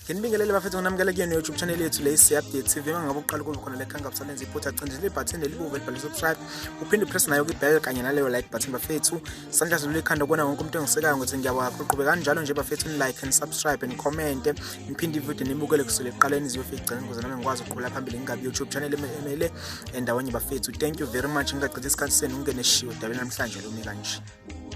nginibingelele bafethu nginamukele kuyena youtube channel yethu le si-update tv uma ngabe uqala ukuza khona lekha ngabusalenza iphutha cindela ibhathini lelibuve libhale subscribe uphinde upress nayo kwi-bell kanye naleyo like button bafethu sandla zilula ikhanda kubona wonke umuntu engisekayo ngokuthi ngiyabakho uqhube kanjalo nje bafethu ni-like and subscribe and commente niphinde ividiyo nibukele kusele ekuqaleni ziyofika igcine ukuze nami ngikwazi ukuqhubela phambili ngingabi youtube channel emele endawonye bafethu thank you very much ngingagcitha isikhathi senu ngingene shiwo dabeni namhlanje lumi kanje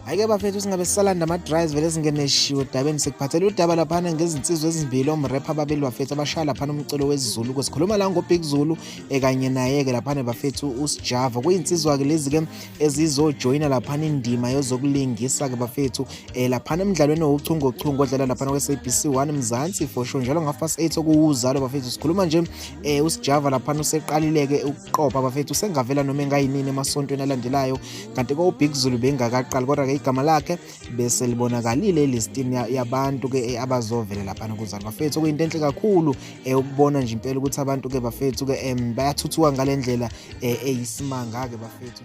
Ayike bafethu singabe sisalanda ama drives vele singeneshiwe dabeni sekuphathele udaba laphana ngezinsizwa ezimbili omrap ababili bafethu abashaya laphana umculo wesiZulu ke sikhuluma la ngo Big Zulu ekanye naye ke laphana bafethu uSjava kuyinsizwa ke lezi ke ezizojoyina laphana indima yozokulingisa ke bafethu eh laphana emidlalweni wochungo chungo odlala laphana kwe SABC 1 Mzansi for sure njalo ngafa 8 okuwuzalo bafethu sikhuluma nje eh uSjava laphana useqalileke ukuqopha bafethu sengavela noma engayinini emasontweni alandelayo kanti ke ubig zulu bengakaqali kodwa ke igama lakhe bese libonakalile elistini yabantu ke eh, abazovela laphana kuzali bafethu okuyinto enhle kakhulu eh, ukubona nje impela ukuthi abantu ke bafethu ke em bayathuthuka ngalendlela eh, eyisimanga ke bafethu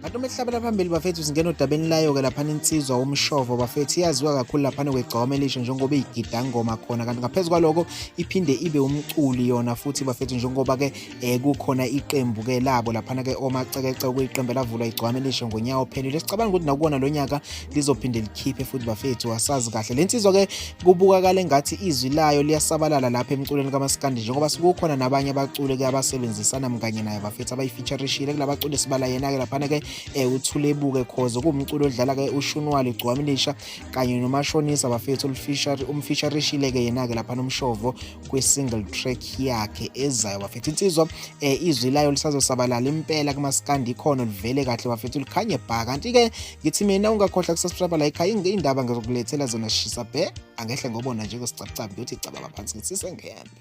kanti uma ehlabela phambili bafethu singena odabeni layo ke laphana insizwa womshovo bafethu iyaziwa kakhulu laphana kwegcoma elisha njengoba igidangoma khona kanti ngaphezu kwaloko iphinde ibe umculi yona futhi bafethu njengoba ke um kukhona iqembu-ke labo laphana-ke omacekece okuyiqembu elavulwa igcwame lisho ngonyawo ophelile sicabanga ukuthi nakuwona lo nyaka lizophinde likhiphe futhi bafethu asazi kahle le nsizwa-ke kubukakala engathi izwi layo liyasabalala lapha emculweni kamasikandi njengoba sikukhona nabanye abaculi-ke abasebenzisana mkanye naye bafethu abayifeaturishile kula baculi sibala yena-ke laphana-ke um uthulebuke khoze kuwumculi odlala-ke ushunwali igcwame lisha kanye nomashonisa bafethu umfeaturishile-ke yena-ke laphana umshovo kwi-single track yakhe ezayo bafethu insizwa eh, izwi layo lisazosabalala impela kumaskandi ikhono livele kahle bafethu likhanye bha kanti-ke ngithi mina ungakhohlwa kusasubscribe la ikhaya iy'ndaba ngizokulethela zona shisa bhe angehle ngobona nje kwesicabucabu ngiyothi cababa phansi ngithi sengembe